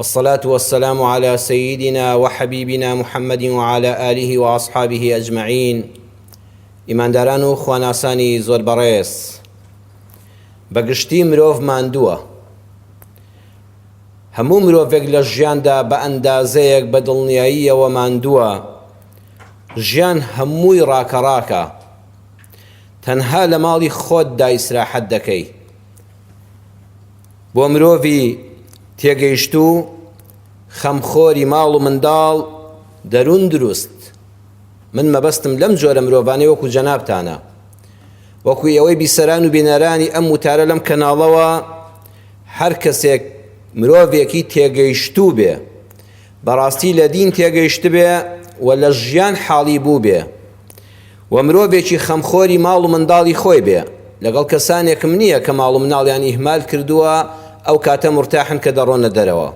والصلاة والسلام علی سیدنا وحبیبنا محمد وعلی آله وأصحابه اجمعین ئیمانداران و خواناسانی زۆر بەڕێز بە گشتی مرۆڤ ماندووە هەموو مرۆڤێک لە ژیاندا بە ئەندازەیەک بە دڵنیاییەوە ماندووە ژیان هەمووی ڕاکەڕاکە تەنها لە ماڵی خۆت دایسراحەت دەکەی بۆ مرۆڤی تێگەیشتوو، خەمخۆری ماڵ و منداڵ، دەروون دروست. من مەبەستم لەم جۆرە مرۆڤانەی وەکو جەنابتانە. وەکو ئێوەی بیسەران و بینەرانی ئەم وتارە لەم کەناڵەوە، هەر کەسێک مرۆڤێکی تێگەیشتوو بێ، بەڕاستی لە دین تێگەیشتبێ و لە ژیان حاڵی بووبێ، و مرۆڤێکی خەمخۆری ماڵ و منداڵی خۆی بێ، لەگەڵ کەسانێکم نییە کە ماڵ و مناڵیان ئیهمال کردووە ئەو کاتە مورتاحن کە دەڕۆنە دەرەوە.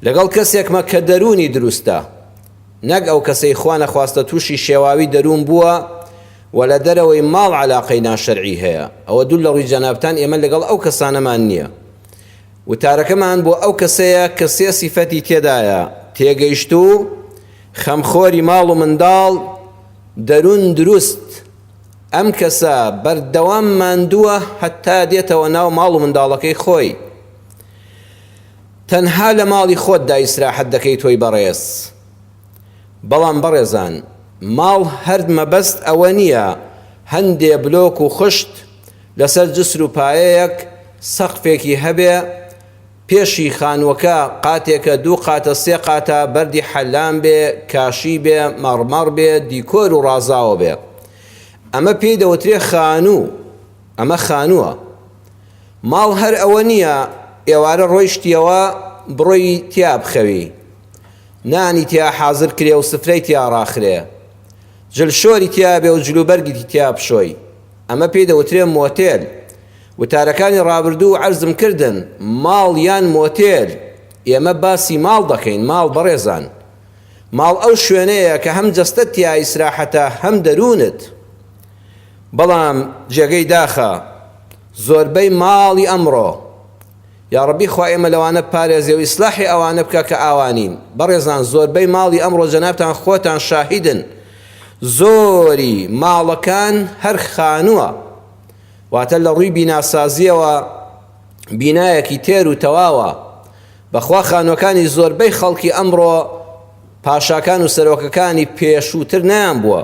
لەگەڵ کەسێکمە کە دەروونی دروستە، نەک ئەو کەسەی خوا نەخواستە تووشی شێواوی دەروون بووە و لە دەرەوەی ماڵ عەلاقەی ناشەرعی هەیە، ئەوە دوور لە ڕووی جەنابتان ئێمە لەگەڵ ئەو کەسانەمان نییە. وتارەکەمان بۆ ئەو کەسەیە کە سێ سیفەتی تێدایە، تێگەیشتوو، خەمخۆری ماڵ و منداڵ دەرون دروست، ئەم کەسە بەردەوام ماندووە هەتا دێتەوە ناو ماڵ و منداڵەکەی خۆی. تەنها لە ماڵی خۆتدا ئیسراحەت دەکەی تۆی بەڕێز. بەڵام بەڕێزان ماڵ هەر مەبەست ئەوە نییە هەندێ بلۆک و خشت لەسەر جسر و پایەیەک سەقفێکی هەبێ، پێشی خانووەکە قاتێکە دوو قاتە سێ قاتە بەردی حەلام بێ کاشی بێ مەڕمەڕ بێ دیکۆر و ڕازاوە بێ ئەمە پێی دەوترێ خانوو ئەمە خانووە ماڵ هەر ئەوە نییە ئێوارە ڕۆیشتیەوە بڕۆی تیا بخەوی نانی تیا حازر کرێ و سفرەی تیا ڕاخرێ جل شۆری تیا بێ و جلوبەرگی تیا بشۆی ئەمە پێی دەوترێ مۆتێل وتارەکانی ڕابردوو عەرزم کردن ماڵ یان مۆتێل ئێمە باسی ماڵ دەکەین ماڵ بەڕێزان ماڵ ئەو شوێنەیە کە هەم جەستەت تیا ئیسراحەتە هەم دەروونت بەڵام جێگەی داخە زۆربەی ماڵی ئەمڕۆ یاڕەبی خوا ئێمە لەوانە پارێزێ و ئیسلاحی ئەوانە بکە کە ئاوانین بەڕێزان زۆربەی ماڵی ئەمڕۆ جەنابتان خۆتان شاهیدن زۆری ماڵەکان هەر خانووە واتە لە ڕووی بیناسازییەوە بینایەکی تێر و تەواوە، بەخوا خانووەکانی زۆربەی خەڵکی ئەمڕۆ پاشاکان و سەرۆکەکانی پێشووتر نەیانبووە.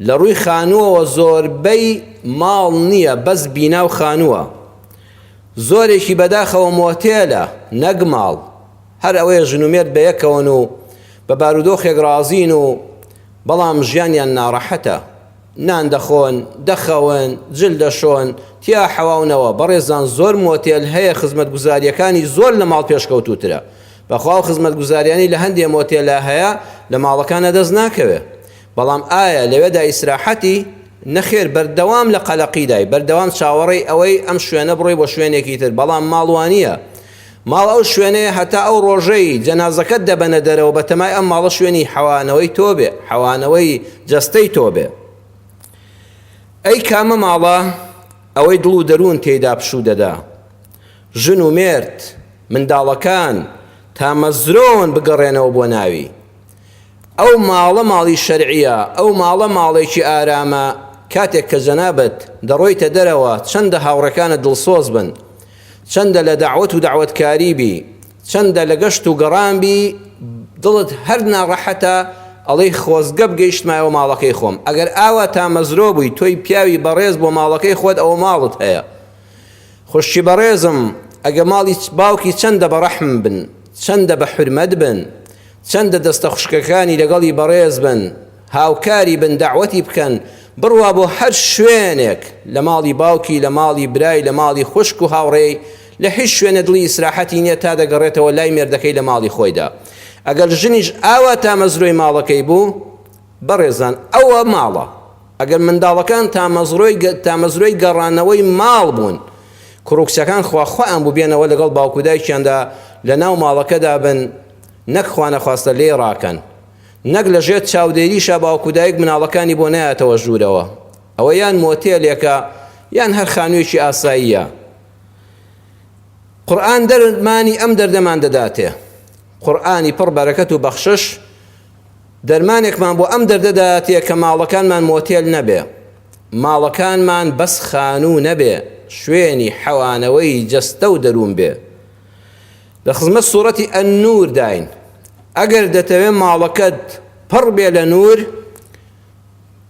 لە ڕووی خانووەوە زۆربەی ماڵ نییە بەس بینا و خانووە. زۆرێکی بەداخەوە مۆتێلە نەک ماڵ، هەر ئەوەیە ژن و مێرد بە یەکەوەن و بە بارودۆخێک ڕازین و بەڵام ژیانیان ناڕەحەتە. نان دەخۆن، دەخەون، جل دەشۆن، تیا حەواونەوە، بەڕێزان زۆر مۆتێل هەیە خزمەتگوزاریەکانی زۆر لە ماڵ پێشکەوتوترە، بەخوا ئەو خزمەتگوزاریانەی لە هەندێ مۆتێلا هەیە لە ماڵەکانا دەست ناکەوێ، بەڵام ئایا لەوێدا ئیسراحەتی؟ نەخێر بەردەوام لە قەلەقیدای، بەردەوام چاوەڕێی ئەوەی ئەم شوێنە بڕۆی بۆ شوێنێکی تر، بەڵام ماڵ وانیە، ماڵ ئەو شوێنەیە هەتا ئەو ڕۆژەی جەنازەکەت دەبەنە دەرەوە بەتەمای ئەم ماڵە شوێنی حەوانەوەی تۆ بێ حەوانەوەی جەستەی تۆ بێ ئەی کامە ماڵە ئەوەی دڵ و دەروون تێیدا پشوو دەدا ژن و مێرد منداڵەکان تامەزرۆن بگەڕێنەوە بۆ ناوی ئەو ماڵە ماڵی شەرعیە ئەو ماڵە ماڵێکی ئارامە کاتێک کە جەنابەت دەڕۆیتە دەرەوە چەندە هاوڕەکانە دڵسۆز بن چەندە لە دەعوەت و دەعوەتکاری بی، چەندە لە گەشت و گەڕان بی، دڵت هەر ناڕەحەتە، ئەڵێی خۆزگە بگەیشتمایەوە ماڵەکەی خۆم. ئەگەر ئاوا تامەزرۆ بووی، تۆی پیاوی بەڕێز بۆ ماڵەکەی خۆت ئەوە ماڵت هەیە. خوشکی بەڕێزم، ئەگە ماڵی باوکی چەندە بە ڕەحم بن، چەندە بە حورمەت بن، چەندە دەستە خوشکەکانی لەگەڵی بەڕێز بن، هاوکاری بن دەعوەتی بکەن بڕوا بۆ هەر شوێنێک لە ماڵی باوکی لە ماڵی برای لە ماڵی خوشک و هاوڕێی لە هیچ شوێنێ دڵی ئیسراحەتی نیە تا دەگەڕێتەوە لای مێردەکەی لە ماڵی خۆیدا ئەگەر ژنیش ئاوا تامەزرۆی ماڵەکەی بوو بەڕێزان ئەوە ماڵە ئەگەر منداڵەکان تامەزرۆی تامەزرۆی گەڕانەوەی ماڵ بوون کوڕوکچەکان خوا خۆیان بوو بێنەوە لەگەڵ باوکودایکیاندا لە ناو ماڵەکەدا بن نەک خوانەخواستە لێی ڕاکەن نەک لە ژێر چاودێریشا باوک و دایک مناڵەکانی بۆ نایەتەوە ژوورەوە، ئەوە یان مۆتێلێکە یان هەر خانوویەکی ئاساییە. قورئان دەرمانی ئەم دەردەمان دەداتێ. قورئانی پڕ بەرەکەت و بەخشش دەرمانێکمان بۆ ئەم دەردە دەداتێ کە ماڵەکانمان مۆتێل نەبێ، ماڵەکانمان بەس خانوو نەبێ، شوێنی حەوانەوەی جەستە و دەروون بێ. لە خزمەت سوڕەتی النور داین ئەگەر دەتەوێ ماڵەکەت پڕ بێ لە نور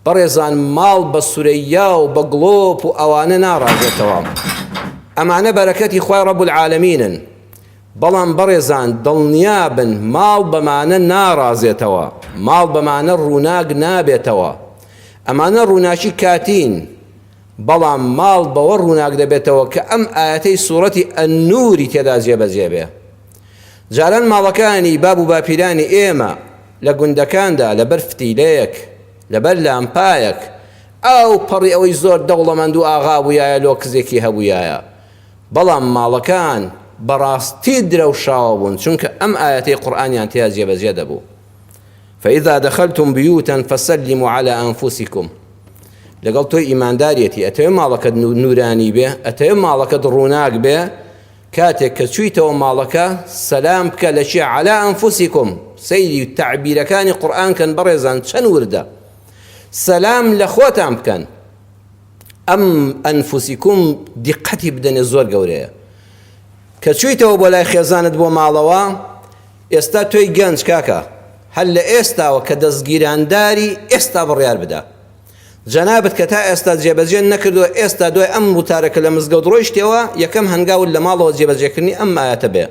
بەڕێزان ماڵ بە سورەیا و بە گڵۆپ و ئەوانە ناڕازێتەوە ئەمانە بەرەکەتی خی ڕەب العالمینن بەڵام بەڕێزان دڵنیا بن ماڵ بەمانە ناڕازێتەوە ماڵ بەمانە ڕووناک نابێتەوە ئەمانە ڕووناکی کاتین بەڵام ماڵ بەوە ڕووناک دەبێتەوە کە ئەم ئایەتەی سوڕەتی النوری تێدا جێبەجێ بێ. جاران ماڵەکانی باب و باپیرانی ئێمە لە گوندەکاندا لەبەر فتیلەیەک، لەبەر لامپایەک، ئاو پەڕی ئەوەی زۆر دەوڵەمەند و ئاغا بوویایە لۆ کزێکی هەبوویایە. بەڵام ماڵەکان بەڕاستی درەوشاوە بوون چونکە ئەم ئایەتەی قورئانیان تێا جێبەجێ دەبوو. فإذا دخلتم بيوتا فسلموا على أنفسكم لەگەڵ تۆی ئیماندارەتی ئەتەوێ ماڵەکەت نورانی بێ ئەتەوێ ماڵەکەت ڕووناک بێ کاتێک کە چوویتەوە ماڵەکە سەلام بکە لە چی علا ئەنفوسیکم سەیری تعبیرەکانی قورآن کەن بەڕێزان چەند وردە سەلام لە خۆتان بکەن ئەم ئەنفوسیکم دیقەتی بدەنێ زۆر گەورەیە کە چوویتەوە بۆ لای خێزانت بۆ ماڵەوە ئێستا تۆی گەنج کاکە هەر لە ئێستاوە کە دەزگیرانداری ئێستا بڕیار بدە جەنابت کە تا ئێستا جێبەجێ نەکردوە ئێستا دوای ئەم وتارە کە لە مزگەوت ڕۆیشتەوە یەکەم هەنگاوت لە ماڵەوە جێبەجێکردنی ئەم ئایەتە بێ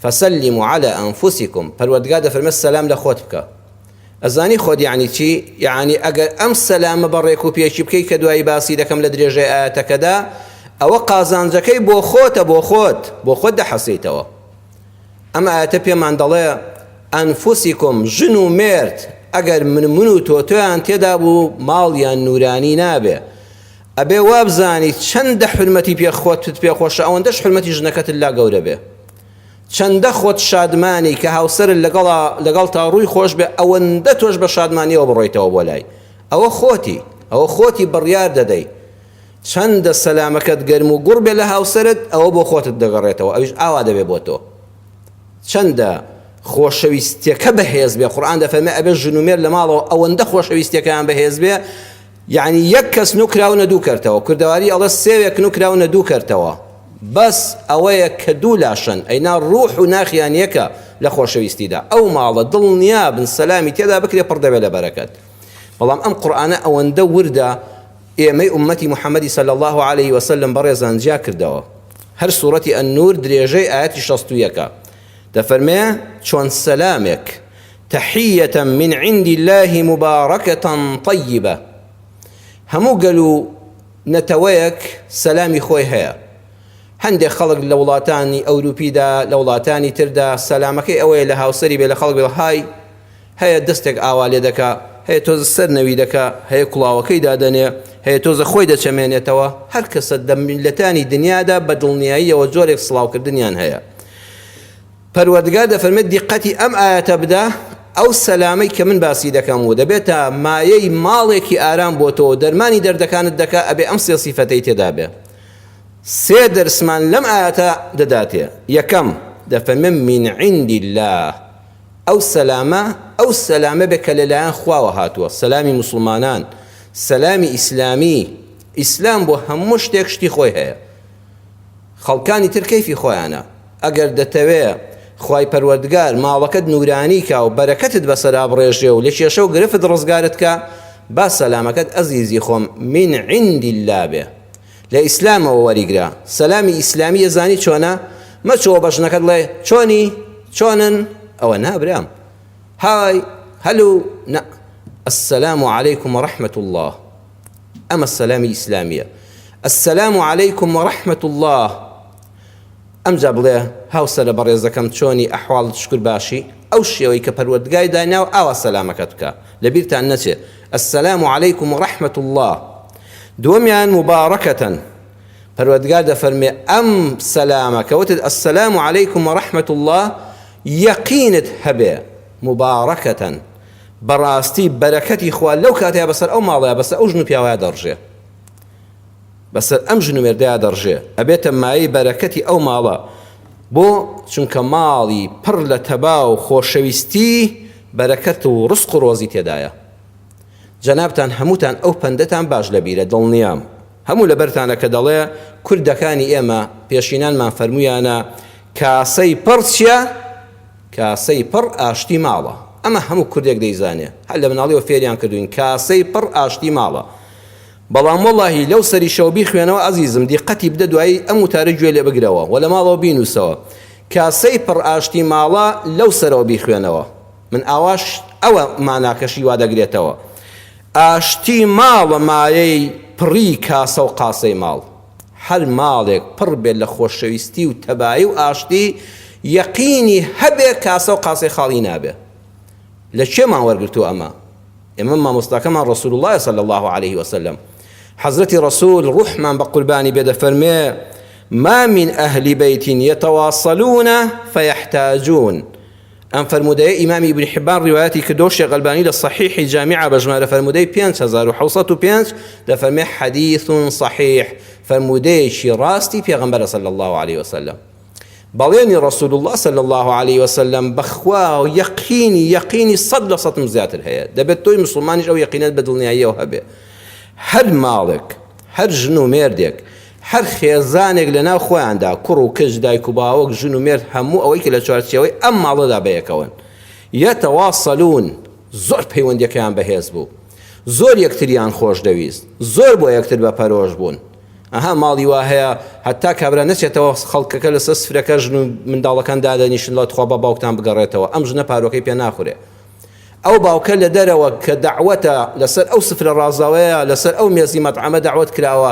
فسلمو علی انفسکم پەروەردگار دەفەرمێت سەلام لە خۆت بکە ئەزانی خۆت یعنی چی یعنی ئەگەر ئەم سەلامە بە ڕێک و پێکی بکەی کە دوایی باسی دەکەم لە درێژەی ئایەتەکەدا ئەوە قازانجەکەی بۆ خۆتە بۆ خۆت بۆ خۆت دەحەسیتەوە ئەم ئایەتە پێمان دەڵێ ئەنفوسیکم ژن و مێرد ئەگەر من من و تۆتۆیان تێدا بوو ماڵیان نورانی نابێ ئەبێ وابزانی چەندە حرمەتی پێ خۆتت پێ خۆشە ئەوەندەش حرمەتی ژنەکەتت لا گەورە بێ چەندە خۆت شادمانی کە هاوسەر لەگەڵ لەگەڵ تا ڕووی خۆش بێ ئەوەندە تۆش بە شادمانیەوە بڕۆیتەوە بۆ لای ئەوە خۆتی ئەوە خۆتی بڕیار دەدەی چەندە سەلامەکەت گەرم و گوڕ بێت لە هاوسەرت ئەوە بۆ خۆتت دەگەڕێتەوە ئەویش ئاوا دەبێت بۆ تۆ چەندە خۆشەویستیەکە بەهێز بێ قورآن دەفەرمێ ئەبێ ژن و مێر لە ماڵەوە ئەوەندە خۆشەویستیەکەیان بەهێز بێ یعنی یەک کەس نوکراونە دوو کەرتەوە کوردەواری ئەڵە سێوێک نوکراونە دوو کەرتەوە بەس ئەوەیە کە دوو لاشەن ئەینا ڕوح و ناخیان یەکە لە خۆشەویستیدا ئەو ماڵە دڵنیابن سەلامی تێدا بکرێ پڕ دەبێت لە بەرەکەت بەڵام ئەم قورآانە ئەوەندە وردە ئێمەی ئوممەتی محمدی صلی اللە علیە وسلم بەڕێزان جیا کردەوە هەر سورەتی النور درێژەی ئایەتی شەست و یەکە دەفەرمێ چۆن سەلامێک تحیە من عند الله مبارکە طیبە هەموو گەل و نەتەوەیەک سەلامی خۆی هەیە هەندێک خەڵک لە وڵاتانی ئەوروپیدا لە وڵاتانی تردا سەلامەکەی ئەوەیە لە هاوسری بێ لە خەڵک بێ های هەیە دەستێک ئاوا لێ دەکا، هەیە تۆزە سەر نەوی دەکا، هەیە کوڵاوەکەی دادەنێ، هەیە تۆزە خۆی دەچەمێنێتەوە، هەر کەسە دە میللەتانی دنیادا بە دڵنیاییەوە جۆرێک سڵاو کردنیان هەیە. پەروەردگار دەفەرمێت دیقەتی ئەم ئایەتە بدە، ئەو سەلامەی کە من باسی دەکەم و دەبێتە مایەی ماڵێکی ئارام بۆ تۆ و دەرمانی دەردەکانت دەکا ئەبێ ئەم سێ سیفەتەی تێدا بێ. سێ دەرسمان لەم ئایەتە دەداتێ، یەکەم، دەفەرمێ من عند اللە، ئەو سەلامە ئەو سەلامە بێ کە لەلایەن خواوە هاتووە، سەلامی موسڵمانان، سەلامی ئیسلامی، ئیسلام بۆ هەموو شتێک شتی خۆی هەیە، خەڵکانی تر کەیفی خۆیانە، ئەگەر دەتەوێ خوای پەروەردگار ماڵەکەت نورانی کا و بەرەکەتت بەسەرا بڕێژێ و لە کێشە و گرفت ڕزگارت کا، با سەلامەکەت ئەزیزی خۆم من عند اللە بێ، لە ئیسلامەوە وەریگرە سەلامی ئیسلامی ئەزانی چۆنە مەچۆ بە ژنەکەت ڵێ چۆنی چۆنن ئەوە نا برام های هەلو نا السلام علیکم و رحمت الله ئەمە سەلامی ئیسلامیە السلام علیکم و رحمت الله ئەمجا بڵێ هاوسەرە بەڕێزەکەم چۆنی ئەحواڵت شکور باشی ئەو شێوەی کە پەروەردگای دایناوە ئاوا سەلامەکەت بکە لەبیرتان نەچێ السلام علیکم و رحمە اللە دووەمیان مبارکتن پەروەردگار دەفەرموێ ئەم سەلامە کە وتت السلام علیکم و رحمە اللە یەقینت هەبێ مبارکتن بەڕاستی بەرەکەتی خوا لەو کاتەیا بەسەر ئەو ماڵەیا بەسەر ئەو ژن و پیاوەیا دەڕژێ بەسەر ئەم ژنومێردەیا دەڕژێ ئەبێتە مایەی بەرەکەتی ئەو ماڵە بۆ چونکە ماڵی پڕ لە تەبا و خۆشەویستی بەرەکەت و ڕسق و ڕۆزی تێدایە جەنابتان هەمووتان ئەو پەندەتان باش لە بیرە دڵنیام هەموو لە بەرتانە کە دەڵێ کوردەکانی ئێمە پێشینانمان فەرموویانە کاسەی پڕ چیە کاسەی پڕ ئاشتی ماڵە ئەمە هەموو کوردێک دەیزانێ هەر لە مناڵیەوە فێریان کردووین کاسەی پڕ ئاشتی ماڵە بەڵام وەڵاهی لەو سەریشەوە بیخوێنەوە ئەزیزم دیقەتی بدە دوایی ئەم وتارە گوێ لێ بگرەوە وە لە ماڵەوە بینووسەوە کاسەی پڕ ئاشتی ماڵە لەو سەرەوە بیخوێنەوە من ئاواش ئەوە ماناکەشی وا دەگرێتەوە ئاشتی ماڵە مایەی پڕی کاسە و قاسەی ماڵ هەر ماڵێک پڕ بێت لە خۆشەویستی و تەبایی و ئاشتی یەقینی هەبێ کاسە و قاسەی خاڵی نابێ لە کوێمان وەرگرتووە ئەمە ئێمە مامۆستاکەمان ڕەسولوڵڵایە صلی اللە علیە وسلم حەزرەتی ڕەسول ڕوحمان بە قوربانی بێ دەفەرمێ ما من ئەهلی بیت یتواصلون فیحتاجون ئەم فەرمودەیە ئیمامی ابن حبان ڕیوایەتی کردو شێخ ئەلبانی لە صحیحی جامعە بە ژمارە فەرمودەی 5705 دەفەرمێ حدیث صحیح فەرمودەیەکی ڕاستی پێغەمبەرە صلی الله علیه وسلم بەڵێنی رسول اللە صلی اللە علیە وسلم بەخوا یەقینی یەقینی سەد لە سەدم زیاتر هەیە دەبێت تۆی مسوڵمانیش ئەو یەقینەت بە دڵنیاییەوە هەبێ هەر ماڵێک هەر ژن و مێردێک هەر خێزانێک لە ناو خۆیاندا کوڕ و کچ دایک و باوەک ژن و مێرد هەموو ئەوەی کە لە چوارچێوەی ئەم ماڵەدا بەیەکەوەن یەتەواصلون زۆر پەیوەندیەکەیان بەهێز بوو زۆر یەکتریان خۆش دەویست زۆر بۆ یەکتر بە پەرۆش بوون ئەها ماڵی وا هەیە هەتا کابرا نەچێتەوە خەڵکەکە لەسەر سفرەکە ژن و منداڵەکان دادەنیشن لە تخوا بە باوکتان بگەڕێتەوە ئەم ژنە پارۆکەی پێ ناخورێ ئەو باوکە لە دەرەوە کە داوەتە لەسەر ئەو سفرە ڕازاوەیە لەسەر ئەو مێزی مەتعەمە داوت کراوە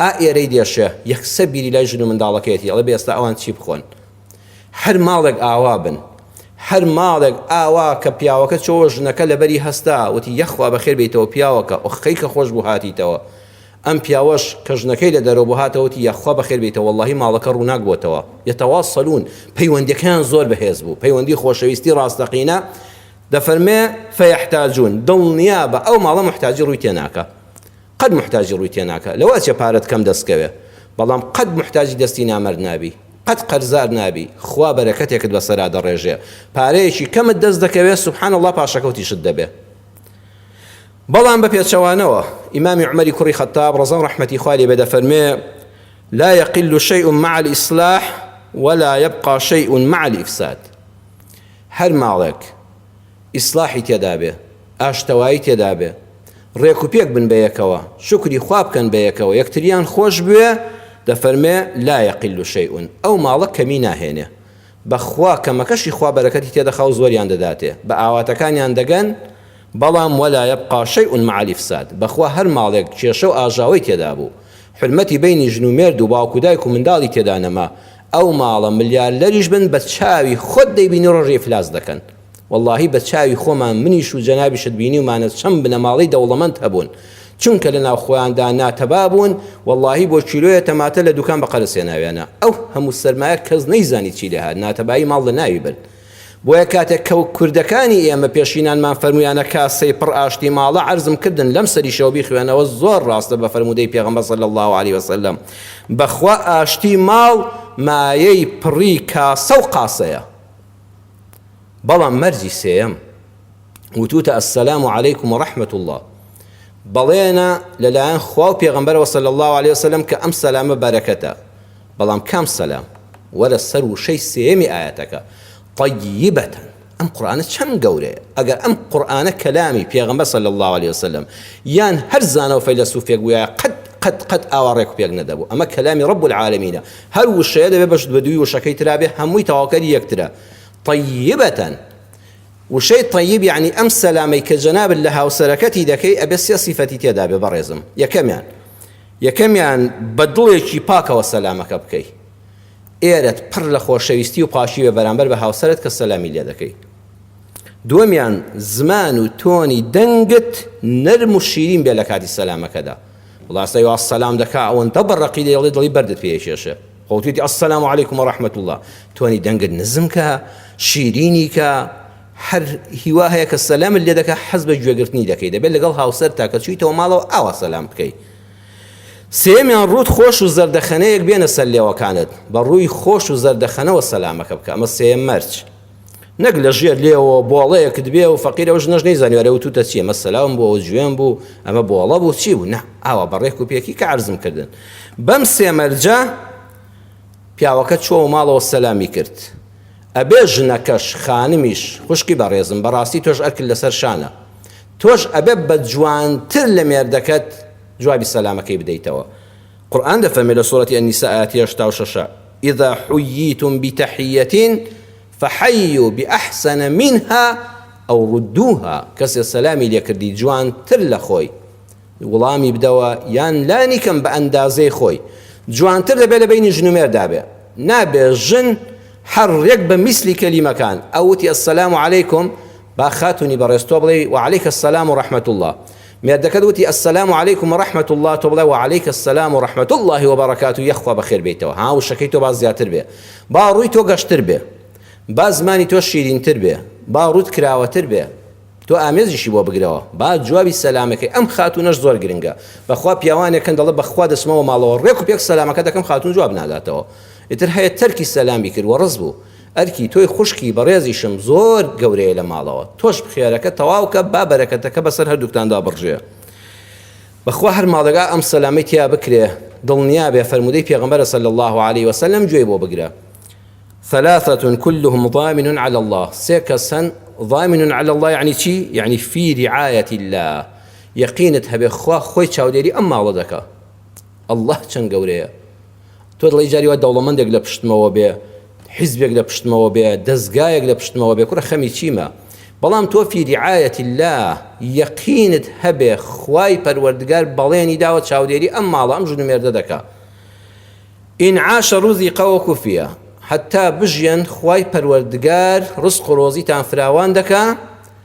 ئا ئێرەی دێشێ یەکسە بیری لای ژن و منداڵەکەیەتی ئەڵێ بێستا ئەوان چی بخۆن هەر ماڵێک ئاوا بن هەر ماڵێک ئاوا کە پیاوەکە چۆوە ژنەکە لەبەری هەستا وتی یەخوا بەخێر بیتەوە پیاوەکە ئۆخەی کە خۆش بوو هاتیتەوە ئەم پیاوەش کە ژنەکەی لە دەرەوە بوو هاتەوە وتی یاخوا بەخێر بێیتەوە وەڵاهی ماڵەکە ڕووناک بۆتەوە یەتەواصلون پەیوەندیەکەیان زۆر بەهێز بوو پەیوەندی خۆشەویستی ڕاستەقینە دەفەرمێ فیحتاجون دڵنیابە ئەو ماڵە موحتاجی ڕووی تێناکا قەت موحتاجی ڕووی تێناکا لەوە چیە پارەت کەم دەستکەوێ بەڵام قەت موحتاجی دەستی نامەرد نابی قەت قەرزار نابی خوا بەرەکەتێکت بەسەرا دەڕێژێ پارەیەکی کەمت دەست دەکەوێ سبحان اللە پاشەکەوتیشت دەبێ بەڵام بە پێچەوانەوە ئیمامی عومەری کوڕی خەتاب ڕەزا و ڕەحمەتی خوا لێ بێ دەفەرمێ لا يقل شيء مع الإصلاح ولا يبقى شيء مع الإفساد هەر ماڵێک ئیسلاحی تێدا بێ ئاشتەوایی تێدا بێ ڕێک و پێک بن بە یەکەوە شکری خوا بکەن بە یەکەوە یەکتریان خۆش بوێ دەفەرمێ لا يقل شيء ئەو ماڵە کەمی ناهێنێ بەخوا کەمەکەشی خوا بەرەکەتی تێدەخاو زۆریان دەداتێ بەئاواتەکانیان دەگەن بەڵام ولا یبقا شیء مع الافساد بەخوا هەر ماڵێک کێشەو ئاژاوەی تێدابوو حورمەتی بەینی ژن و مێردو باوک و دایک و منداڵی تێدا نەما ئەو ماڵە ملیارلەریش بن بەچاوی خۆت دەیبینی ڕۆژێ ئیفلاس دەکەن وەڵاهی بە چاوی خۆمان منیش و جەنابیشت بینیومانە چەند بنەماڵەی دەوڵەمەند هەبوون چونکە لە ناو خۆیاندا ناتەبا بوون وەڵاهی بۆ کیلۆیە تەماتە لە دوکان بە قەرز هێناویانە ئەو هەموو سەرمایە کەس نەیزانی چی لێهات ناتەبایی ماڵ لە ناوی برد بۆیە کاتێک کە کوردەکانی ئێمە پێشینانمان فەرمویانە کاسەی پڕ ئاشتی ماڵە عەرزم کردن لەم سەریشەوە بیخوێنەوە زۆر ڕاستە بە فەرموودەی پێغەمبەر صلی الله علیه وسلم بەخوا ئاشتی ماڵ مایەی پڕی کاسە و قاسەیە بەڵام مەرجی سێیەم وتوتە السلام علیکم ورحمة اللە بەڵێنە لەلایەن خوا و پێغەمبەرەوە صلی اللە علیە وسلم کە ئەم سەلامە بەرەکەتە بەڵام کام سەلام وەرە سەر وشەی سێیەمی ئایەتەکە طیبە ئەم قورئانە چەند گەورەیە ئەگەر ئەم قورئانە کەلامی پێغەمبەر صلی اللە علیە وسلم یان هەر زانا و فەیلەسوفێک بوایە قەت قەت قەت ئاوا ڕێک و پێک نەدەبوو ئەمە کەلامی رب العالمینە هەر وشەیە دەبێ بەش بەدووی وشەکەی ترا بێ هەمووی تەواوکەری یەکترە طیبەتەن وشەی طیب یعنی ئەم سەلامەی کە جەنابت لە هاوسەرەکەتی دەکەی ئەبێ سێ سیفەتی تێدا بێ بەڕێزم یەکەمیان یەکەمیان بە دڵێکی پاکەوە سەلامەکە بکەی ئێرەت پڕ لە خۆشەویستی و پاشی بێ بەرامبەر بە هاوسەرت کە سەلامی لێ دەکەی دووەمیان زمان و تۆنی دەنگت نەرم و شیرین بێ لە کاتی سەلامەکەدا وڵا سەی واز سەلام دەکا ئەوەندە بە ڕەقی دەیڵێ دڵی بەردت پێ ئەکێشێ خۆتویتی السلام علیکم و رحمت اللە تۆنی دەنگت نزم کە شیرینی کە هەر هیوا هەیە کە سەلامت لێ دەکە حەز بە گوێگرتنی دەکەی دەبێت لەگەڵ هاوسەر تاکە چویتەوە ماڵەوە ئاوا سەلام بکەی سێمیان ڕوت خۆش و زەردەخەنەیەک بێنە سەر لێوەکانت بە ڕووی خۆش و زەردەخەنەوە سەلامەکە بکە ئەمە سێم مەرج نەک لە ژێر لێەوە بۆڵەیەکت بێ و فەقیر ئەو ژنەش نەیزانانی وەرە وتوتە چیە مەسەلاوم بۆ ئەو جوێن بوو ئەمە بۆڵە بوو چی بوو نە ئاوا بەڕێک و پێکی کە عرزم کردن بەم سێمەرجە پیاوەکە چۆ و ماڵەوە سەلامی کرد ئەبێ ژنەکەش خانمیش خوشکی بەڕێزم بەڕاستی تۆش ئەکل لەسەر شانە تۆش ئەبێ بە جوانتر لە مێردەکەت جوابی سەلامەکەی بدەیتەوە قورئان دەفەرمێ لە سورەتی النساء ئایەتی هەشتا و شەش اذا حییتم بتحیە فحیو باحسن منها او ردوها کەسێ سەلامی لێکردی جوانتر لە خۆی وڵامی بدەوە یان لانی کەم بە ئەندازەی خۆی جوانتر دەبێت لە بینی ژن و مێردا بێ نابێ ژن هەر ڕێک بە میسلی کەلیمەکان ئەوتی السلام علیکم با خاتونی بەڕێز تۆ بڵێ وعلیک السلام و رحمت الله مێردەکەت وتی السلام علیکم و رحمە اللە تۆ بڵێ وعلیک السلام و رحمە اللە و بەڕەکاتوو یەخ خوا بەخێر بێیتەوە ها وشەکەی تۆ با زیاتر بێ با ڕووی تۆ گەشتر بێ با زمانی تۆ شیرینتر بێ با ڕووت کراوەتر بێ تۆ ئامێزیشی بۆ بگرەوە با جوابی سەلامەکەی ئەم خاتوونەش زۆر گرنگە بەخوا پیاوانێک هەن دەڵێ بەخوا دەچمەوە ماڵەوە ڕێک و پێک سەلامەکە دەکەم خاتوون جواب ناداتەوە ئیتر هەیە تەرکی سەلامی کرد و ڕەس بوو ئەرکی تۆی خوشکی بەڕێزیشم زۆر گەورەیە لە ماڵەوە تۆش بخێرەکە تەواوکە با بەرەکەتەکە بەسەر هەردووکتاندا بڕژێ بەخوا هەر ماڵەگا ئەم سەلامەی تیا بکرێ دڵنیابێ فەرمودەی پێغەمبەرە صلی اللە علیە وسلم گوێی بۆ بگرە ثلاثة كلهم ضامن على الله سێ کەس هەن ضامن على الله يعني چی؟ يعني في رعاية الله یەقینت هەبێ خوا خۆی چاودێری ئەم ماڵە دەکا الله چەند گەورەیە تۆ دڵی جاری وا دەوڵەمەندێک لە پشتمەوە بێ حیزبێک لە پشتمەوە بێ دەستگایەک لە پشتمەوە بێ کوڕە خەمی چیمە بەڵام تۆ فی رعایەتی الله یەقینت هەبێ خوای پەروەردگار بەڵێنی داوە چاودێری ئەم ماڵە ئەم ژن و مێردە دەکا ئین عاش رزقا وکفیا حتا بژیەن خوای پەروەردگار رزق و رۆزیتان فراوان دەکا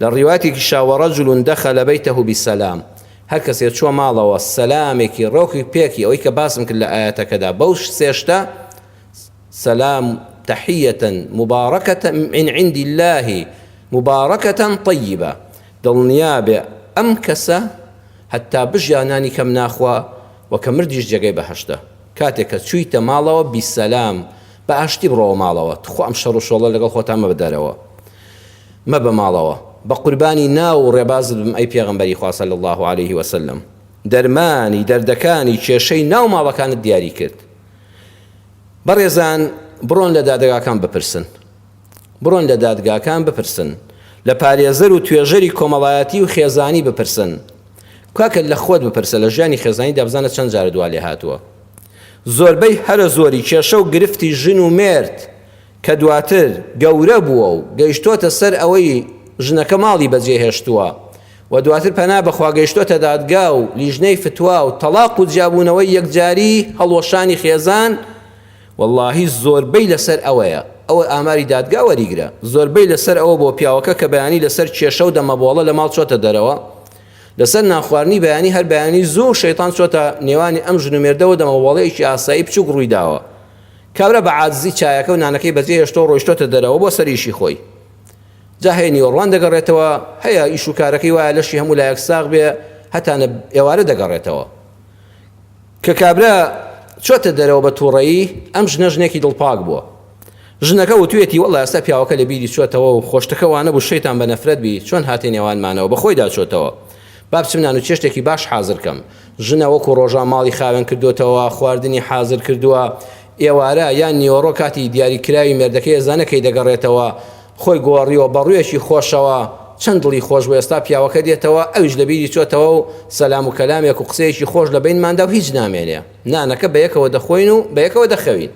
لە ڕیوایەتێکی شا، ورجل دخل بیته بسلام، هەر کەسێ چووە ماڵەوە سەلامێکی ڕێکی پێکی، ئەوەی کە باسم کرد لە ئایەتەکەدا بەو سێ شتە، سلام تحیە مبارکە من عند اللە مبارکە طیبە، دڵنیا بێ ئەم کەسە هەتا بژیا نانی کەم ناخوا و کە مردیش جێگەی بەهەشتە، کاتێ کە چوویتە ماڵەوە بیسەلام، بە ئاشتی بڕۆوە ماڵەوە، توخوا ئەم شەڕ و شۆڵە لەگەڵ خۆتا مەبە دەرەوە. مەبە ماڵەوە بەقوربانی ناو و ڕێبازت بم ئەی پێغەمبەری خوا صلی اللە علیه و سلم دەرمانی دەردەکانی کێشەی ناو ماڵەکانت دیاری کرد بەڕێزان بڕۆن لە دادگاکان بپرسن بڕۆن لە دادگاکان بپرسن لە پارێزەر و توێژەری کۆمەڵایەتی و خێزانی بپرسن کاکە لە خۆت بپرسە لە ژیانی خێزانی دابزانە چەند جارە دوا لێ هاتووە زۆربەی هەرە زۆری کێشە و گرفتی ژن و مێرد کە دواتر گەورە بووە و گەیشتۆتە سەر ئەوەی ژنەکە ماڵی بەجێ هێشتووە و دواتر پەنا بەخوا گەیشتۆتە دادگا و لیژنەی فتوا و تەڵاق و جیابوونەوەی یەکجاری هەڵوەشانی خێزان وەڵاهی زۆربەی لەسەر ئەوەیە ئەوە ئاماری دادگا وەریگرە زۆربەی لەسەر ئەوە بۆ پیاوەکە کە بەیانی لەسەر کێشە و دەمەبۆڵە لە ماڵ چۆتە دەرەوە لەسەر نانخواردنی بەیانی هەر بەیانی زوو شەیتان چۆتە نێوانی ئەم ژن و مێردەوە دەمەبۆڵەیەکی ئاسایی بچووک ڕووی داوە کابرا بە عاجزی چایەکە و نانەکەی بەجێ هێشتەوە ڕۆیشتۆتە دەرەوە بۆ سەر ئیشی خۆی. جا هەی نیوەڕوان دەگەڕێتەوە، هەیە ئیش و کارەکەی وایە لەشی هەموو لایەک ساغ بێ هەتا نە ئێوارە دەگەڕێتەوە. کە کابرا چۆتە دەرەوە بە تووڕەیی ئەم ژنە ژنێکی دڵپاک بووە. ژنەکە وتویەتی وەڵلا ئێستا پیاوەکە لە بیری چۆتەوە و خۆشتەکە وانەبوو شەیتان بە نەفرەت بی چۆن هاتە نێوانمانەوە بە خۆیدا چۆتەوە. با بچم نانوچێشتێکی باش حازر کەم. ژنە وەکو ڕۆژان ماڵی خاوێن کردۆتەوە، خواردنی حازر کردووە. ئێوارە یان نیوەڕۆ کاتی دیاری کراوی مێردەکەی ئێزانە کەی دەگەڕێتەوە. خۆی گۆڕیوە بە ڕوویەکی خۆشەوە. چەند دڵی خۆش بوو ئێستا پیاوەکە دێتەوە، ئەویش لە بیری چۆتەوە و سەلام و کەلامێک و قسەیەکی خۆش لە بەینماندا و هیچ نامێنێ. نانەکە بە یەکەوە دەخۆین و بە یەکەوە دەخەوین.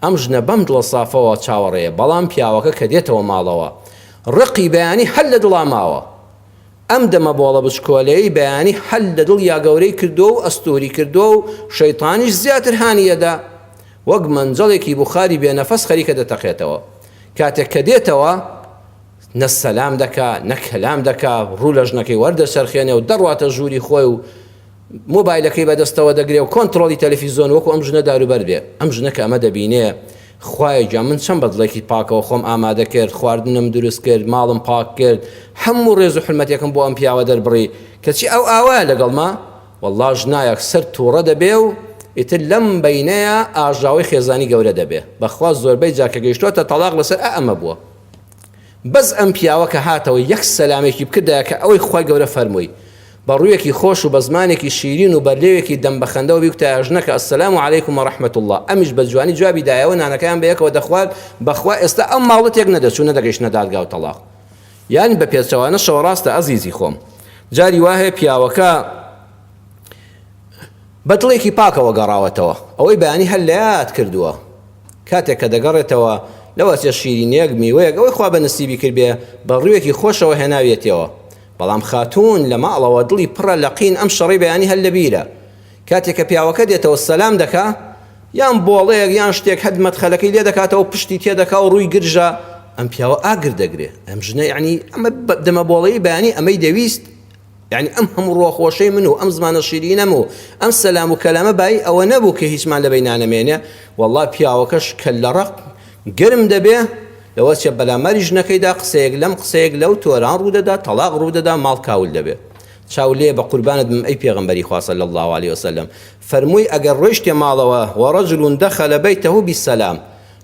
ئەم ژنە بەم دڵە سافەوە چاوەڕێیە، بەڵام پیاوەکە کە دێتەوە ماڵەوە. ڕقی بەیانی هەر لە دڵا ماوە. ئەم دەمە بۆڵە بچکۆلەیەی بەیانی حەل لە دڵیا گەورەی کردووە و ئەستووری کردووە و شەیتانیش زیاتر هانی ئەدا وەک مەنجەڵێکی بوخاری بێ نەفەس خەریکە دەتەقێتەوە کاتێک کە دێتەوە نە سەلام دەکا نە کەلام دەکا ڕوو لە ژنەکەی وەردەچەرخێنێ و دەڕواتە ژووری خۆی و مۆبایلەکەی بەدەستەوە دەگرێ و کۆنتڕۆڵی تەلەفیزۆن وەکو ئەم ژنە داروبەرد بێ ئەم ژنە کە ئەمە دەبینێ خوایە گیان من چەند بەدڵێکی پاکەوە خۆم ئامادە کرد خواردنم دروست کرد ماڵم پاک کرد هەموو ڕێز و حرمەتێکم بۆ ئەم پیاوە دەربڕی کەچی ئەو ئاوایە لەگەڵما وەڵڵا ژنایەک سەر تووڕە دەبێ و ئیتر لەم بەینەیە ئاژاوەی خێزانی گەورە دەبێ بەخوا زۆربەی جا کە گەیشتۆتە تەڵاق لەسەر ئەمە بووە بەس ئەم پیاوە کە هاتەوە یەک سەلامێکی بکردایە کە ئەوەی خوای گەورە فەرمووی بە ڕوویەکی خۆش و بە زمانێکی شیرین و بەرلێوێکی دەم بە خەندەوە بیوتایە ژنەکە السلام علیکم و رحمە اللە ئەمیش بە جوانی جوابی دایەوە نانەکەیان بە یەکەوە دەخوارد بەخوا ئێستا ئەم ماڵە تێک نەدەچوو نەدەگەیشتنە دادگا و تەڵاق یان بە پێچەوانەشەوە ڕاستە ئەزیزی خۆم جاری وا هەیە پیاوەکە بە دڵێکی پاکەوە گەڕاوەتەوە. ئەوەی بەیانی هەر لە یاد کردووە. کاتێک کە دەگەڕێتەوە، لەوەچێ شیرینییەک، میوەیەک، ئەوەی خوا بە نسیبی کردبێ، بە ڕووێکی خۆشەوە هێناویەتیەوە. بەڵام خاتوون لە ماڵەوە دڵی پڕە لە قین ئەم شەڕەی بەیانی هەر لە بیرە. کاتێک کە پیاوەکە دێتەوە سەلام دەکا، یان بۆڵەیەک یان شتێک هەد مەدخەلەکەی لێ دەکاتەوە پشتی تێ دەکا و ڕووی گرژە، ئەم پیاوە ئاگر دەگرێ. ئەم ژنە یەعنی ئەم دەمەبۆڵەی بەیانی ئەمەی دەویست؟ یانی ئەم هەموو ڕووە خۆشەی من و ئەم زمانە شیرینەم و ئەم سەلام و کەلامە بایی ئەوە نەبوو کە هیچمان لەبەی نانەمێنێ وەڵڵا پیاوەکەش کەللە ڕەق گەرم دەبێ لەوە چێ بەلاماری ژنەکەیدا قسەیەک لەم قسەیەک لەو تۆران ڕوو دەدا تەڵاق ڕوو دەدا ماڵ کاول دەبێ چاو لێ بە قوربانت بم ئەی پێغەمبەری خوا صلی الله علیه وسلم فەرمووی ئەگەر ڕۆیشتێ ماڵەوە وەڕەجل دەخەلە بەیتەهو بیسەلام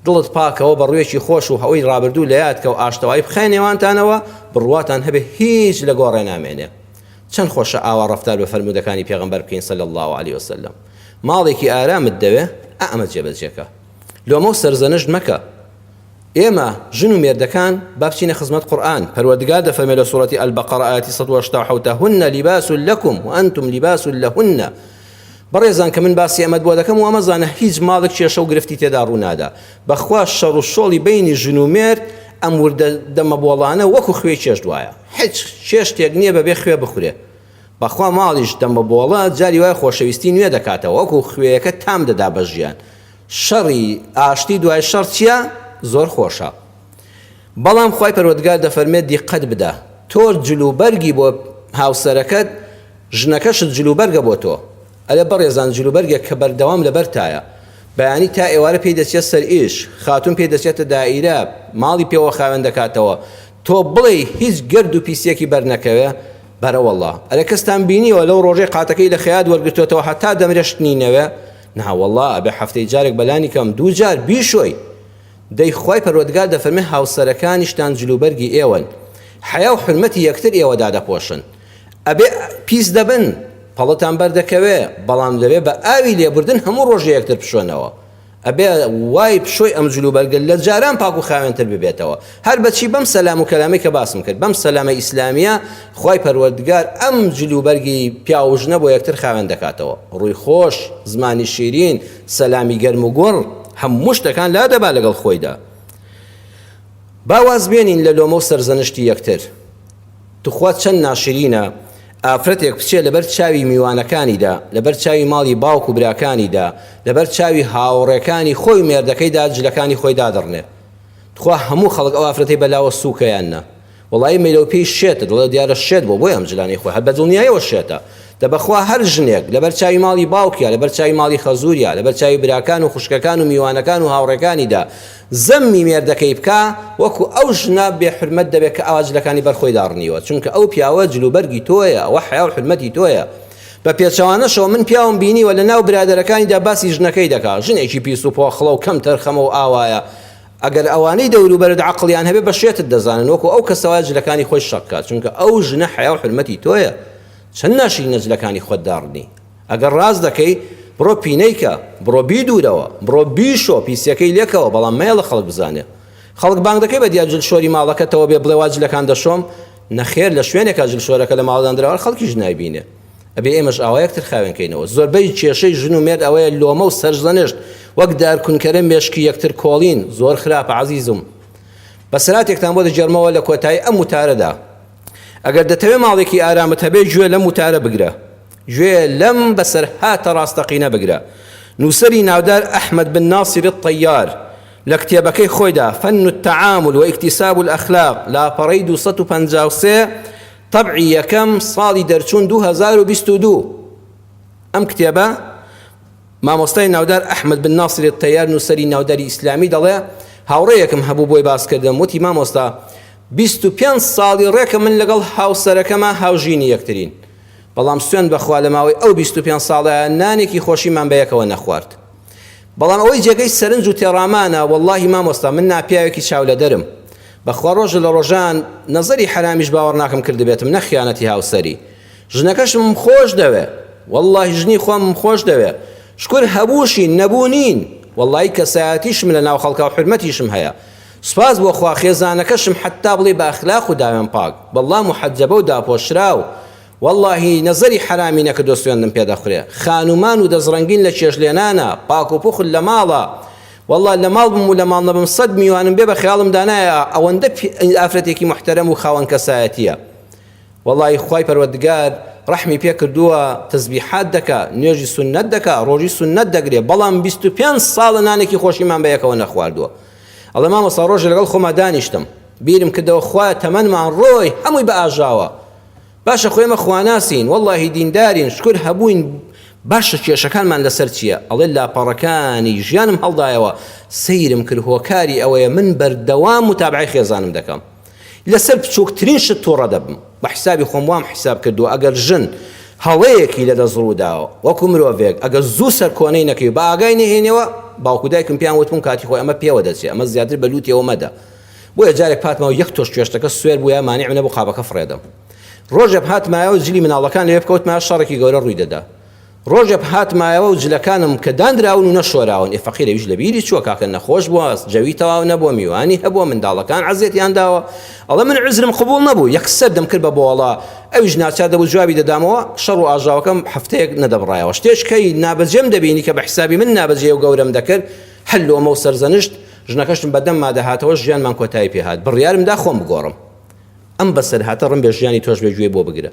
دڵت پاکەوە بە ڕوێکی خۆش و هەوەی ڕابردوو لە یاد کە و ئاشتەوایی بخەیە نێوانتانەوە، بڕواتان هەبێ هیچ لە گۆڕێ نامێنێ. چەن خۆشە ئاوا ڕەفتار بە فەرموودەکانی پێغەمبەر بکەین صلی اللە علیە وسلم. ماڵێکی ئارامت دەوێ ئا ئەمە جێبەجێ کە. لۆمە و سەرزەنشت مەکە. ئێمە ژن و مێردەکان با بچینە خزمەت قورئان، پەروەردگار دەفەرمێ لە سورەتی البقرە ئایەتی سەد و هەشتا و حەوت هن لباس لکم وانتم لباس لهن، بەڕێزان کە من باسی ئەمەت بۆ دەکەم وامەزانە هیچ ماڵێک کێشە و گرفتی تێدا ڕوو نادا بەخوا شەڕ و شۆڵی بەینی ژن و مێرد ئەم وردە دەمە بۆڵانە وەکو خوێی چێشت وایە هیچ چێشتێک نیە بەبێ خوێ بخورێ بەخوا ماڵیش دەمە بۆڵە جاری وایە خۆشەویستی نوێ دەکاتەوە وەکو خوێیەکە تام دەدا بە ژیان شەڕی ئاشتی دوای شەڕ چیە زۆر خۆشە. بەڵام خوای پەروەردگار دەفەرمێت دیقەت بدە تۆ جل و بەرگی بۆ هاوسەرەکەت ژنەکەشت جل و بەرگە بۆ تۆ ئەرێ بەڕێزان جل و بەرگێک کە بەردەوام لەبەرتایە بەیانی تا ئێوارە پێی دەچێت سەر ئیش خاتون پێی دەچێتە دائیرە ماڵی پێوە خاوێن دەکاتەوە تۆ بڵێی هیچ گەرد و پیسیەکی بەرنەکەوێ بەرەوەڵا ئەرێ کەستان بینیوە لەو ڕۆژەی قاتەکەی لە خەیات وەرگرتوێتەوە هەتا دەمرێ شتنی نەوێ ناوەڵا ئەبێ هەفتەی جارێک بەلانی کەم دوو جار بیشۆی دەی خوای پەروەردگار دەفەرمێ هاوسەرەکانیشتان جلوبەرگی ئێوەن حەیا و حورمەتی یەکتر ئێوە دادەپۆشن ئەبێ پیس دەبن پەڵتان بەردەکەوێ بەڵام دەبێ بە ئاوی لێبوردن هەموو ڕۆژێ یەکتر بشۆنەوە ئەبێ وای پشۆی ئەم جلوبەرگە لە جاران پاک و خاوێنتر ببێتەوە هەر بەچی بەم سەلام و کەلامەی کە باسم کرد بەم سەلامە ئیسلامیە خوای پەروەردگار ئەم جلوبەرگی پیاو و ژنە بۆ یەکتر خاوێن دەکاتەوە ڕووی خۆش زمانی شیرین سەلامی گەرم و گوڕ هەموو شتەکان لادەبا لەگەڵ خۆیدا. با واز بێنین لە لۆمە و سەرزەنشتی یەکتر. توخوا چەند ناشرینە ئافرەتێک بچێ لەبەر چاوی میوانەکانیدا، لەبەر چاوی ماڵی باوک و براکانیدا، لەبەر چاوی هاوڕێکانی خۆی و مێردەکەیدا جلەکانی خۆی دادڕنێ. توخوا هەموو خەڵک ئەو ئافرەتەی بە لاوە سووکە یان نا؟ وەڵایی مەیلەو پێی شێتە دەڵێ دیارە شێت بووە بۆیە ئەم جلانەی خۆی هەر بەدڵنیایەوە شێتە دە بەخوا هەر ژنێک لەبەر چاوی ماڵی باوکیا لەبەر چاوی ماڵی خەزوریا لەبەر چاوی براکان و خوشکەکان و میوانەکان و هاوڕێکانیدا زەممی مێردەکەی بکا وەکو ئەو ژنە بێ حورمەت دەبێ کە ئاوا جلەکانی بەر خۆی داڕنیوە چونکە ئەو پیاوە جل و بەرگی تۆیە ئەوە حەیا و حورمەتی تۆیە بە پێچەوانەشەوە من پیاوم بینیوە لە ناو برادەرەکانیدا باسی ژنەکەی دەکا ژنێکی پیس و پۆخڵە و کەم تەرخەمە و ئاوایە ئەگەر ئەوانەی دەوروبەرت عەقڵیان هەبێت بە شێتت دەزانن وەکو ئەو کەسە وایە جلەکانی خۆی شەق کات چونکە ئەو ژنە حەیا و حورمەتی تۆیە چەند ناشرینە جلەکانی خۆت داڕنی ئەگەر ڕاست دەکەی بڕۆ پینەی کە بڕۆ بیدورەوە بڕۆ بیشۆ پیسیەکەی لێکەوە بەڵام مەیەڵە خەڵک بزانێ خەڵک بانگ دەکەی بە دیا جل شۆری ماڵەکەتەوە بێ بڵێ وا جلەکان دەشۆم نەخێر لە شوێنێکا جل شۆرەکە لە ماڵدان دراوە خەڵکیش نایبینێ ئەبێ ئێمەش ئاوا یەکتر خاوێن کەینەوە زۆربەی کێشەی ژن و مێرد ئەوەیە لۆمە و سەرزەنشت وەک دارکونکەرە مێشکی یەکتر کۆڵین زۆر خراپە عزیزم بەسراتێکتان بۆ دەگێرمەوە لە کۆتایی ئەم وتارەدا ئەگەر دەتەوێ ماڵێکی ئارامت هەبێ گوێ لەم وتارە بگرە گوێ لەم بەسەرهاتە ڕاستەقینە بگرە نووسەری ناودار ئەحمد بن ناصر الطیار لە کتێبەکەی خۆیدا فن التعامل واكتساب الاخلاق لاپەڕەی 253 تەبعی یەکەم ساڵی دەرچوون دوو هەزار و بیست و دوو ئەم کتێبە مامۆستای ناودار ئەحمد بن ناصر التیار نووسەری ناوداری ئیسلامی دەڵێ هاوڕێیەکم هەبوو بۆی باس کردم وتی مامۆستا بیست و پێنج ساڵی ڕێکە من لەگەڵ هاوسەرەکەمە هاوژینی یەکترین بەڵام سوێن بەخوا لە ماوەی ئەو بیست و پێنج ساڵە نانێکی خۆشیمان بە یەکەوە نەخوارد بەڵام ئەوەی جێگەی سەرنج و تێڕامانە وەڵاهی مامۆستا من ناپیاوێکی چاولەدەرم بەخوا ڕۆژ لە ڕۆژان نەزەری حەرامیش باوەڕناکەم کردبێتم نە خیانەتی هاوسەری ژنەکەشمم خۆش دەوێ وەڵاهی ژنی خۆمم خۆش دەوێ شکور هەبووشین نەبوو نین وەڵاهی کەسایەتیشم لە ناو خەڵکا و حورمەتیشم هەیە سوپاس بۆ خوا خێزانەکەشم حەتتا بڵێی بە ئەخلاق و داوێن پاک بەڵڵا محەجەبە و داپۆشراو وەڵاهی نەزەری حەرامی نەکردوە سوێندم پێ دەخورێ خانومان و دەسڕەنگین لە چێژ لێنانە پاک و پوخت لە ماڵە وەڵا لە ماڵ بم و لە ماڵ نەبم سەد میوانم بێ بە خەیاڵم دا نایە ئەوەندە ئافرەتێکی موحتەرەم و خاوەن کەسایەتیە وەڵای خوای پەروەردگار ڕەحمی پێ کردووە تەزبیحات دەکا نوێژی سوننەت دەکا ڕۆژی سوننەت دەگرێ بەڵام بیست و پێنج ساڵە نانێکی خۆشیمان بە یەکەوە نەخواردووە ئەڵێ مامۆستا ڕۆژێ لەگەڵ خۆما دانیشتم بیرم کردەوە خوایە تەمەنمان ڕۆی هەمووی بە ئاژاوە باشە خۆ ئێمە خواناسین وەڵاهی دیندارین شکر هەبووین باشە کێشەکانمان لەسەر چییە ئەڵێ لاپەڕەکانی ژیانم هەڵدایەوە سەیرم کرد هۆکاری ئەوەیە من بەردەوام متابعی خێزانم دەکەم لەسەر بچووکترین شت تووڕە دەبم بە حیسابی خۆم وام حیساب کردووە ئەگەر ژن هەڵەیەکی لە دەست ڕووداوە وەکو مرۆڤێک ئەگەر زوو سەرکۆنەی نەکەی بە ئاگای نهێنەوە باوکو دایکم پێیان وتبووم کاتی خۆی ئەمە پێوە دەچێت ئەمە زیاتر بە لووتەوە مەدە بۆیە جارێک پاتماو یەک تۆش کوێشتەکە سوێر بوویە مانیعم نەبوو قابەکە فڕێدەم. ڕۆژێپ هاتمایە و جلی مناڵەکان لەوێ بکەوتمایە شەڕێکی گەورە ڕووی دەدا. ڕۆژێپ هاتمایەوە و جلەکانم کە داندراون و نەشۆراون، ئێ فەقیر ئەویش لە بیری چووە کاکە نەخۆش بووە، جەوی تەواو نەبووە، میوانی هەبووە، منداڵەکان عەزیەتیان داوە. ئەڵێ من عوزرم قبووڵ نەبوو، یەکسەر دەمکرد بە بۆڵە، ئەویش ناچار دەبوو جوابی دەدامەوە، شەڕ و ئاژاوەکەم هەفتەیەک نەدەبڕایەوە. شتێش کەی نابەجێم دەبینی کە بە حیسابی من نابەجێ و گەورەم دەکرد، هەر لۆمە و سەرزەنشت، ژنەکەشم بە دەمما دەهاتەوە ژیانمان کۆتایی پێ هات بڕیارم دا خۆم بگۆڕم ئەم بەسەرهاتە ڕم بێ ژیانی تۆش بێ گوێ بۆ بگرە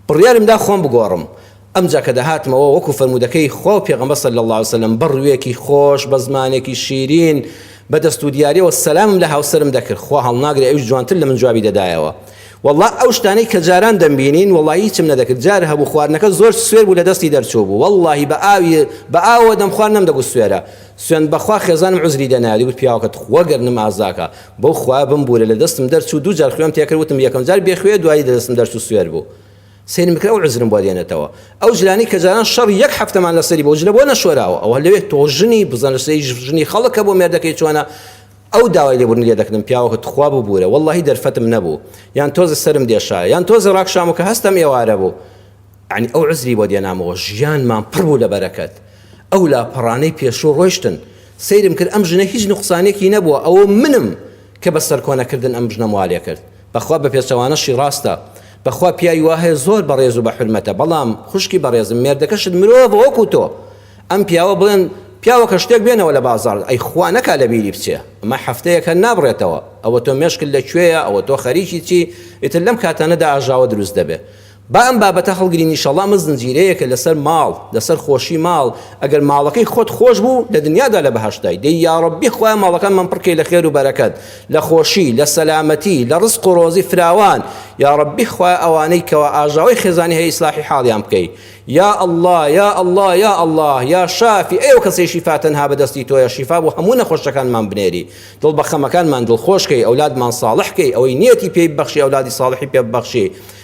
بڕیارم دا خۆم بگۆڕم ئەمجا کە دەهاتمەوە وەکو فەرموودەکەی خوا و پێغەمبەر صلی اللە علیە وسلم بە ڕوێکی خۆش بە زمانێکی شیرین بە دەست و دیارەوە سەلامم لە هاوسەرم دەکرد خوا هەڵناگرێ ئەویش جوانتر لە من جوابی دەدایەوە والله ئەو شتانەی کە جاران دەمبینین والله هیچم نەدەکرد جار هەبوو خواردنەکە زۆر سوێر بوو لە دەستی دەرچوو بوو واللهی بە ئاوی بە ئاوە دەمخوارد نەمدەگوت سوێرە سوێند بەخوا خێزانم عوزری دەنایە دەیگوت پیاوەکە توخوا گەرنم ئازاکە بەو خوایە بمبورە لەدەستم دەرچوو دوو جار خوێم تێکرد وتم یەکەم جار بێ خوێ دوایی لەدەستم دەرچوو سوێر بوو سەیرم بکرد ئەو عوزرم بۆ دێنێتەوە ئەو جلانەی کە جاران شەڕی یەک هەفتەمان لەسەری بۆ جلە بۆ نەشۆراوە ئەوە لەوێ تۆ ژنی بزان لەسەری ژنی خەڵکە بۆ مێردەکەی چۆنە ئەو داوای لێبوردن لێ دەکردم پیاوەکە توخوا ببورە وەڵڵاهی دەرفەتم نەبوو یان تۆزێ سەرم دێشایە یان تۆزێ ڕاکشامەوە کە هەستم ئێوارە بوو یەعنی ئەو عوزری بۆ دێنامەوە ژیانمان پڕ بوو لە بەرەکەت ئەو لاپەڕانەی پێشوو ڕۆیشتن سەیرم کرد ئەم ژنە هیچ نوقسانێکی نەبووە ئەوە منم کە بە سەرکۆنەکردن ئەم ژنەم وا لێ کرد بەخوا بە پێچەوانەشی ڕاستە بەخوا پیاوی وا هەیە زۆر بەڕێز و بە حورمەتە بەڵام خوشکی بەڕێزم مێردەکەشت مرۆڤە وەکو تۆ ئەم پیاوە بڵێن پیاوەکە شتێک بێنەوە لە بازاڕ ئەی خوا نەکا لە بیری بچێ ئەمە هەفتەیەک هەر نابڕێتەوە ئەوە تۆ مێشکت لە کوێیە ئەوە تۆ خەریکی چی ئیتر لەم کاتانەدا ئاژاوە دروست دەبێ با ئەم بابەتە هەڵگرین ئیشەڵا ئەمە زنجیرەیەکە لەسەر ماڵ لەسەر خۆشی ماڵ ئەگەر ماڵەکەی خۆت خۆش بوو لە دنیادا لە بەهەشتای دەی یاڕەبی خوایە ماڵەکانمان پڕکەی لە خێر و بەرەکەت لە خۆشی لە سەلامەتی لە ڕزق و ڕۆزی فراوان یاڕەبی خوایە ئەوانەی کەوا ئاژاوەی خێزانی هەیە ئیسلاحی حاڵیان بکەی یا ئەڵڵا یا ئەڵڵا یا ئەڵڵا یا شافی ئەی ئەو کەسەی شیفا تەنها بەدەستی تۆیە شیفا بۆ هەموو نەخۆشەکانمان بنێری دڵ بە خەمەکانمان دڵخۆشکەی ئەولادمان ساڵح کەی ئەوەی نیەتی پێی بەخشی ئەولادی ساڵحی پێ ببەخشی